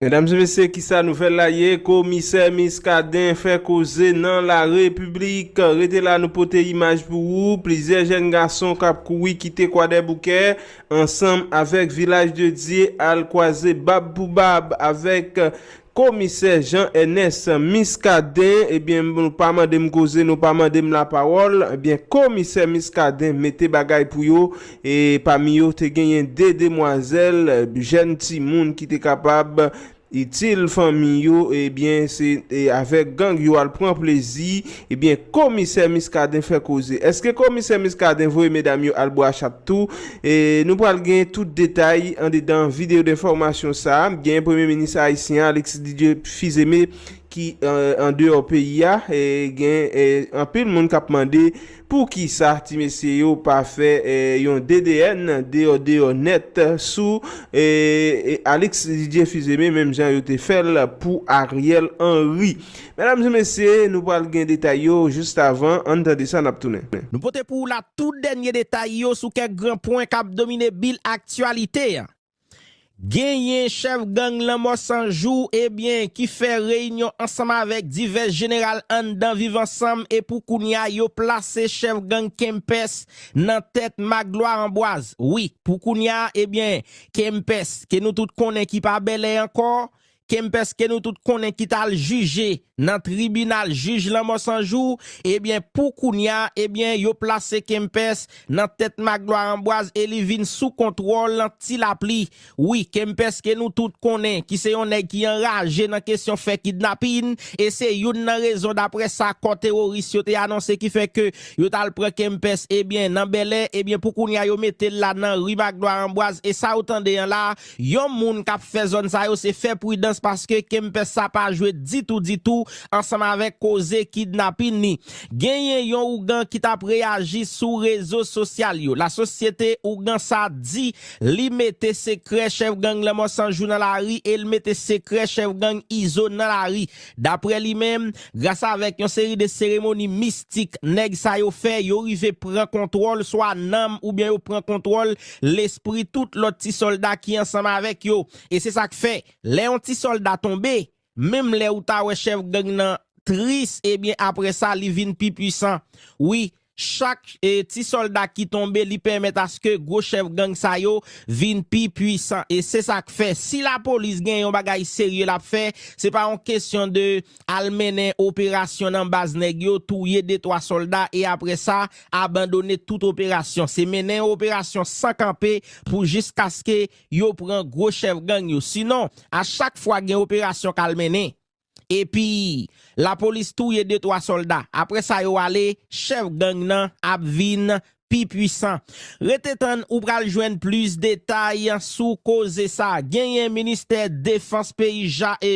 Medam e mesye kisa nouvel la ye komisè miskaden fè koze nan la repiblik rete la nou pote imaj pou ou plizyè jèn gason kap kouri kite kwadèboukè ansanm avèk vilaj de dye al kwaze bab pou bab avèk komisè jan ènès miskaden ebyen nou pa mandem koze nou pa mandem la pawòl ebyen komisè miskaden mete bagay pou yo E pami yo te genyen de demwazèl, jèn timoun ki te kapab itil fanmi yo, ebyen se avèk gang yo al pran plezi, ebyen komisè Muscadin fè koze. Eske komisè Muscadin voye medam yo al bwa chat tou? Nou pral gen tout detay andedan video denfòmasyon sa, genyen premye minis ayisyen an Alexis Didier Fils-Aimé ki andeyò peyi a, gen anpil moun kap mande. Poukisa ti mesye yo pa fè yon DDN deyò deyò nèt sou Alix Didier Fils-Aimé menm jan yo te fèl pou Ariel Henry? Medam e mesye nou pral gen detay yo just avan ann tande sa nap tounen. Nou pote pou ou la tout dènye detay yo sou kèk gran pwen kap domine bil aktyalite a. Genyen chèf gang Lanmò 100 jou ebyen ki fè reyinyon ansanm avèk divès jeneral anndan Viv Ansanm e pou kounya yo plase chèf gang Kempès nan tèt Maglwa Anbwaz. Wi, pou kounya ebyen Kempès ke nou tout konnen ki pa Bèlè ankò, Kempès ke nou tout konnen ki t al jije nan tribinal jij lanmò san jou, ebyen pou kounya ebyen yo plase Kempès nan tèt Maglwa Anbwaz e li vin sou kontwòl Ti Lapli. Wi, Kempès ke nou tout konnen ki se yon nèg ki anraje nan kesyon fè kidnapin e se youn nan rezon daprè sa kò teworis yo te anonse ki fè ke yo t al pran Kempès ebyen nan Bèlè ebyen pou kounya yo mete l la nan ri Maglwa Anbwaz e sa ou tande an la Yon moun kap fè zòn sa yo se fè pridans paske Kempès sa pa jwe ditou ditou ansanm avèk koze kidnapin ni. Genyen yon ougan ki tap reyaji sou rezo sosyal yo. Lasosyete ougan sa di li mete sekrè chèf gang Lanmò 100 jou nan lari e l mete sekrè chèf gang Izo nan lari. Daprè li menm, gras avèk yon seri de seremoni mistik nèg sa yo fè, yo rive pran kontwòl swa nanm oubyen yo pran kontwòl lespri tout lòt ti sòlda ki ansanm avèk yo. E se sa k fè, lè yon ti sòlda tonbe, menm lè ou ta wè chèf gang nan tris, ebyen aprè sa li vin pi pwisan. Wi, Chak ti solda ki tonbe li pèmèt aske gwo chèf gang sa yo vin pi pwisan e se sak fè si la polis gen yon bagay serye lap fè se pa yon kesyon de al mennen operasyon nan baz nèg yo touye de twa solda e aprè sa abandone tout operasyon se mennen yon operasyon san kanpe pou jiskaske yo pran gwo chèf gang yo sinon a chak fwa gen operasyon kal mennen. epi lapolis touye de twa sòlda aprè sa yo ale chèf gang nan ap vin pi pwisan rete tann ou pral jwenn plis detay sou koze sa genyen ministè defans peyi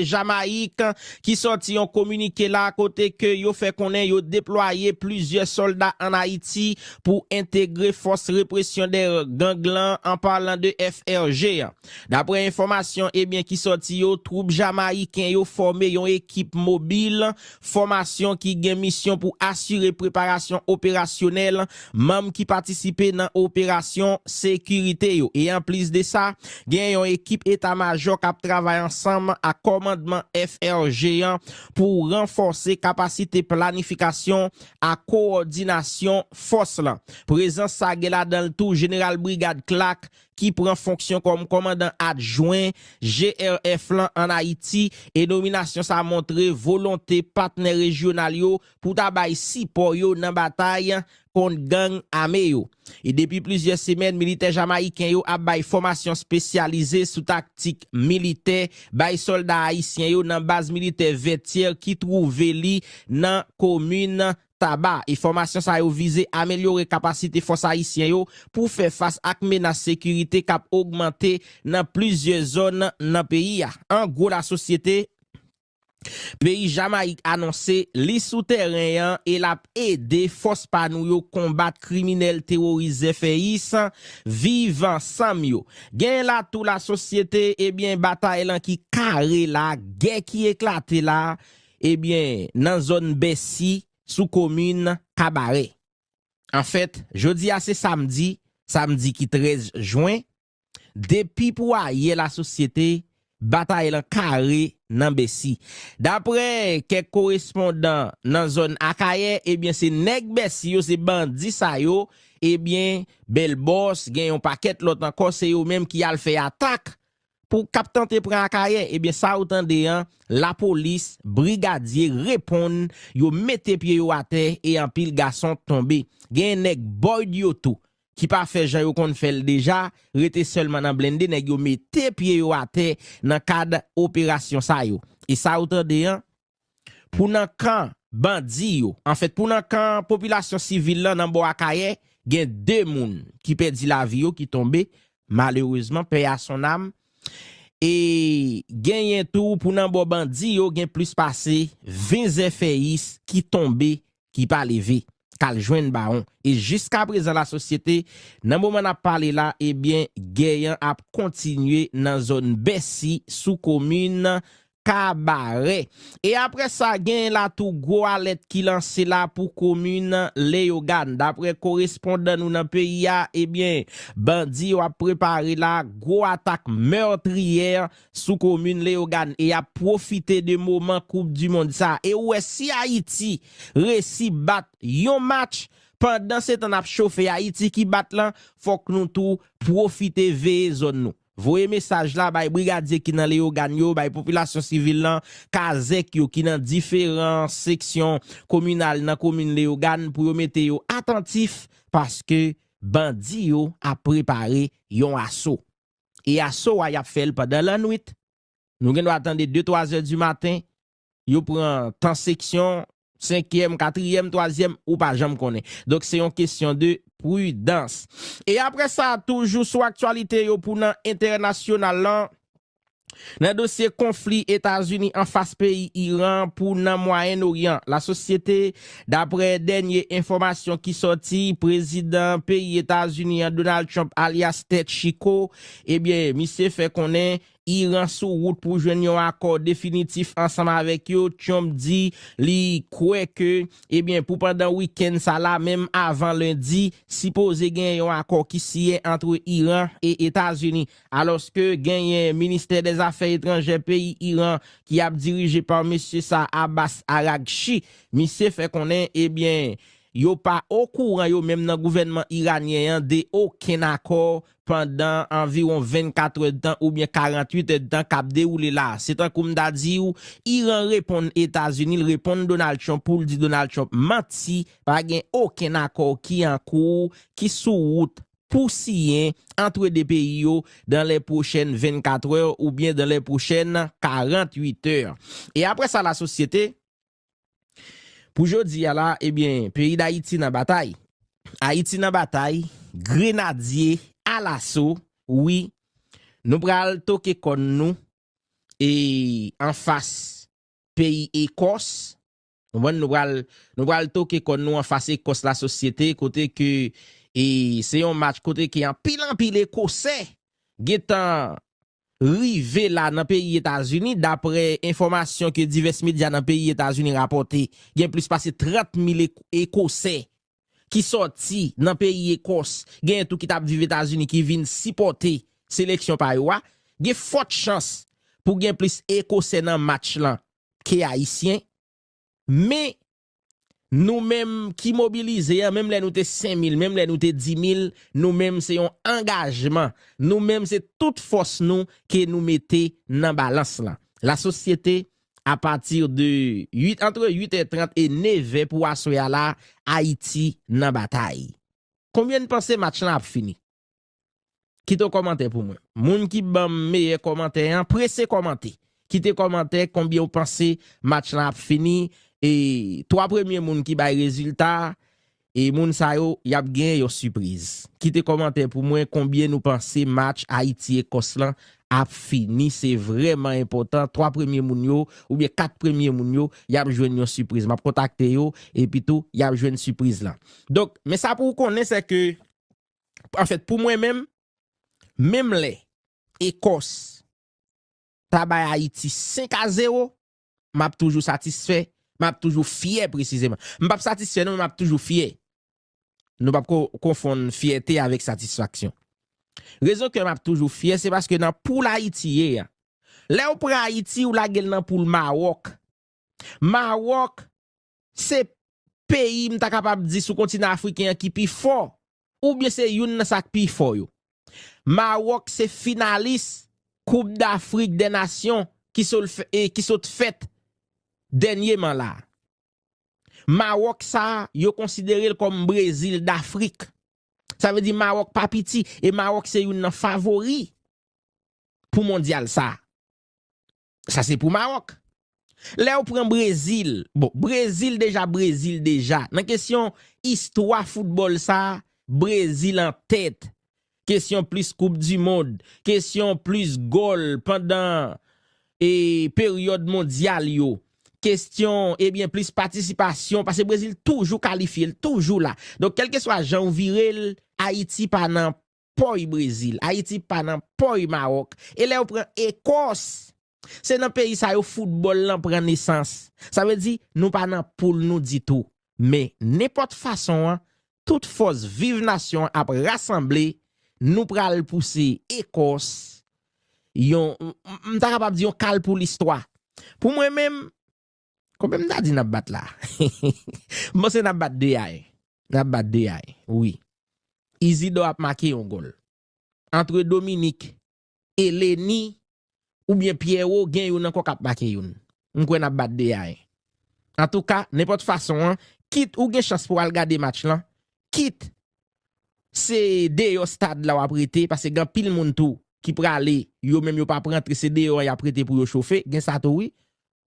jamayik ki sòti yon kominike la kote ke yo fè konnen yo deplwaye plizyè sòlda an ayiti pou entegre fòs represyon dè gang lan an palan de FRG. Daprè enfòmasyon ebyen ki sòti yo, twoup Jamayiken yo fòme yon ekip mobil fòmasyon ki gen misyon pou asire preparasyon operasyonèl manm ki patisipe nan operasyon sekirite yo e anplis de sa, gen yon ekip eta majò k ap travay ansanm ak kòmandman FRG an pou ranfòse kapasite planifikasyon ak kowòdinasyon fòs lan. Prezans sa gen ladan l tou jeneral brigad Clark ki pran fonksyon kòm kòmandan adjwen GRF lan an Ayiti e nominasyon sa montre volonte patnè rejyonal yo pou ta bay sipò yo nan batay kont gang ame yo. E depi plizyè semèn militè jamayiken yo ap bay fòmasyon spesyalize sou taktik militè bay sòlda ayisyen yo nan baz militè Vètyè ki twouve li nan komin Taba, e fòmasyon sa yo vize amelyore kapasite fòs ayisyen yo pou fè fas ak menas sekirite k ap ogmante nan plizyè zòn nan peyi a. An gwo lasosyete peyi Jamayik anonse li sou tèren an e l ap ede fòs pa nou yo konbat kriminèl teworis zèfèyis Viv ansanm yo. Genyen la tou lasosyete, ebyen batay lan ki kare la, gè ki eklate la, Ebyen, nan zòn Bèsi, sou komin Kabarè. Anfèt, jodi a se samdi, samdi ki 13 jwen, depi pou ayè lasosyete batay lan kare nan Bèsi. Daprè kèk korespondan nan zòn Akayè, ebyen se nèg Bèsi yo, se bandi sa yo, ebyen Bèlbòs, gen yon pakèt lòt ankò, se yo menm ki al fè atak Pou kap tante pran akayè ebyen sa ou tande an lapolis brigadye reponn yo mete pye yo atè e anpil gason tonbe gen nèg boyd yo tou ki pa fè jan yo konn fèl deja rete sèlman nan blende nèg yo mete pye yo atè nan kad operasyon sa yo e sa ou tande an pou nan kan bandi yo, anfèt pou nan kan popilasyon sivil lan nan bò Akayè, gen 2 moun ki pèdi lavi yo, ki tonbe malerezman, pè a son nam, e genyen tou pou nan bò bandi yo gen plis pase 20 zèfèyis ki tonbe ki pa leve kal jwenn bawon e jiska prezan la sosyete nan moman nap pale la ebyen gè yan ap kontinye nan zòn bèsi sou komin kabarè e aprè sa gen la tou gwo alèt ki lanse la pou komin leyogàn daprè korespondan nou nan peyi a ebyen bandi yo ap prepare la gwo atak meurtrière sou komin Leyogàn e yap pwofite de moman koup du mond sa e ou wè si Ayiti resi bat yon match pandan se tan nap chofe Ayiti ki bat lan fòk nou tou pwofite veye zòn nou voye mesaj la bay brigadye ki nan Leyogàn yo bay popilasyon sivil lan kazèk yo ki nan diferan seksyon kominal nan komin Leyogàn pou yo mete yo atantif paske bandi yo ap prepare yon aso. e aso a y ap fè l pandan lannwit. Nou gen dwa tande de twa zè di maten, yo pran tan seksyon, senkyèm, katriyèm, twazyèm, ou pa janm konnen. Donk se yon kesyon de pridans. E apre sa, toujou sou aktyalite yo pou nan entènasyonal lan, Nan dosye konfli Etazini anfas peyi Iran pou nan Mwayen Oryan, lasosyete, daprè dènye enfòmasyon ki sòti, prezidan peyi Etazini an Donald Trump alyas Tèt Chiko, ebyen misye fè konnen Iran sou wout pou jwenn yon akò definitif ansanm avèk yo, Trump di li kwè ke ebyen pou pandan wikenn sa la menm avan lendi sipoze gen yon akò ki siyen antre Iran e Etazini. alòske genyen ministè dè zafè etranjè peyi Iran ki ap dirije pa mesye sa Abbas Araghchi, misye fè konnen ebyen yo pa okouran yo menm nan gouvènman iranyen an de okenn akò pandan anviwon 24 èdtan oubyen 48 èdtan k ap dewoule la a. Se tankou m ta di w Iran reponn Etazini, l reponn Donald Trump pou l di Donald Trump manti, pa gen okenn akò ki an kou, ki sou wout pou siyen antre 2 peyi yo dan lè pwochèn 24 è ou byen dan lè pwochèn 48 è. E apre sa la sosyete, pou jodi a la e byen peyi Dayiti nan batay. Ayiti nan batay, grenadye alaso, wi nou pral toke kòn nou e anfas peyi Ekòs Konprann nou pral nou pral toke kòn nou anfas Ekòs la sosyete kote ke e se yon match kote ke anpil anpil ekosè gentan rive la nan peyi Etazini daprè enfòmasyon ke divès medya nan peyi Etazini rapòte gen plis pase 30 mil ekosè ki sòti nan peyi Ekòs genyen tou ki tap viv Etazini ki vin sipòte seleksyon pa yo a gen fòt chans pou gen plis ekosè nan match lan ke ayisyen men nou menm ki mobilize an menm lè nou te 5000 menm lè nou te 10000 nou menm se yon angajman nou menm se tout fòs nou ke nou mete nan balans lan la sosyete a pati de 8 antre 8 è 30 e 9 è pou aswè a la ayiti nan batay konbyen n panse match lan ap fini. Kite yon kòmantè pou mwen. Moun ki banm meyè kòmantè an prese kòmante. Kite kòmantè konbyen ou panse match lan ap fini e 3 premye moun ki bay rezilta e moun sa yo yap gen yon sipriz. Kite kòmantè pou mwen konbyen nou panse match Ayiti Ekòs lan ap fini se vrèman enpòtan 3 premye moun yo oubyen 4 premye moun yo yap jwenn yon sipriz map kontakte yo epitou yap jwenn sipriz lan. Donk men sa pou ou konnen sè ke Anfèt pou mwen menm, menm lè Ekòs ta bay Ayiti 5 a 0, m ap toujou satisfè, m ap toujou fyè presizeman. M p ap satisfè non men m ap toujou fyè. Nou p ap konfonn fyète avèk satisfaksyon. Rezon kè m ap toujou fyè se paske nan poul Ayiti ye a, lè ou pran Ayiti ou lage l nan poul Mawòk. Mawòk se peyi m ta kapab di sou kontinan afriken an ki pi fò oubyen se youn nan sa k pi fò yo. Mawòk se finalis koup dafrik dè nasyon ki sot fèt dènyeman la a. Mawòk sa a yo konsidere l kòm brezil dafrik. Sa vle di mawòk pa piti e mawòk se youn nan favori pou mondyal sa a. Sa se pou Maroc. Lèw pran Brésil, bon Brésil deja Brésil deja. Nan kesyon istwa football sa, Brésil an tèt. Kesyon plis koup du mond, kesyon plis gòl pandan e peryòd mondyal yo. Kesyon ebyen plis patisipasyon pase Brésil toujou kalifye, l toujou la. Donk kelkeswa janw virel Ayiti pa nan pòy Brezil, Ayiti pa nan pòy Mawòk, e lè yo pran Ekòs, se nan peyi sa yo foutbòl lan pran nesans. Sa vle di, nou pa nan poul nou ditou. Men, nenpòt fason an, tout fòs viv nasyon an ap rasanble, nou pral pouse Ekòs yon, m ta kapab di yon kal pou listwa. Pou mwen menm, Konbyen m ta di n ap bat la? M panse n ap bat 2 a 1. N ap bat 2 a 1, wi. Izidò ap make yon gòl. Antre Dominik, Eleni, oubyen Pyèwo, gen youn ankò k ap make youn. M kwè n ap bat 2 a 1. Antouka, nenpòt fason an, kit ou gen chans pou w al gade match lan, kit se deyò stad la w ap rete, pase gen anpil moun tou ki prale, yo menm yo p ap rantre, se deyò an y ap rete pou yo chofe, gen sa tou wi.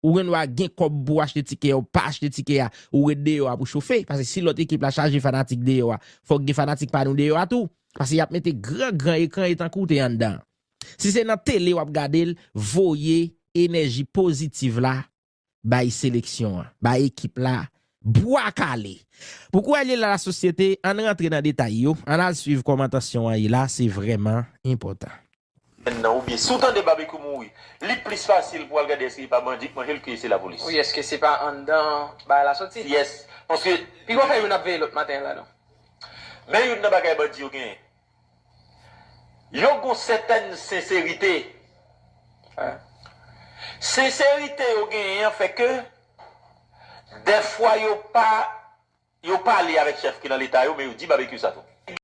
Ou gen dwa gen kòb pou achte tikè ou pa achte tikè a, ou ret deyò a pou chofe, pase si lòt ekip la chaje fanatik deyò a, fòk gen fanatik pa nou deyò a tou, pase yap mete gran gran ekran e tankou w te anndan an. Si se nan tele wap gade l, voye enèji pozitiv la bay seleksyon an, bay ekip la, bwa kale! Pou kou Alyela la sosyete, ann rantre nan detay yo, ann al swiv kòman tansyon an ye la, se vrèman enpòtan. N nan oubyen si w tande Babekyou mouri li plis fasil pou w al gade èske li pa bandi k manje l ke se lapolis. Wi èske se pa anndan bagay la soti. Yes paske. Pi bon fè youn ap veye lòt maten la non. Men youn nan bagay bandi yo genyen yo gon sètèn senserite. Senserite yo genyen an fè ke dèfwa yo pa yo pale avèk chèf ki nan leta yo men yo di Babekyou sa tou.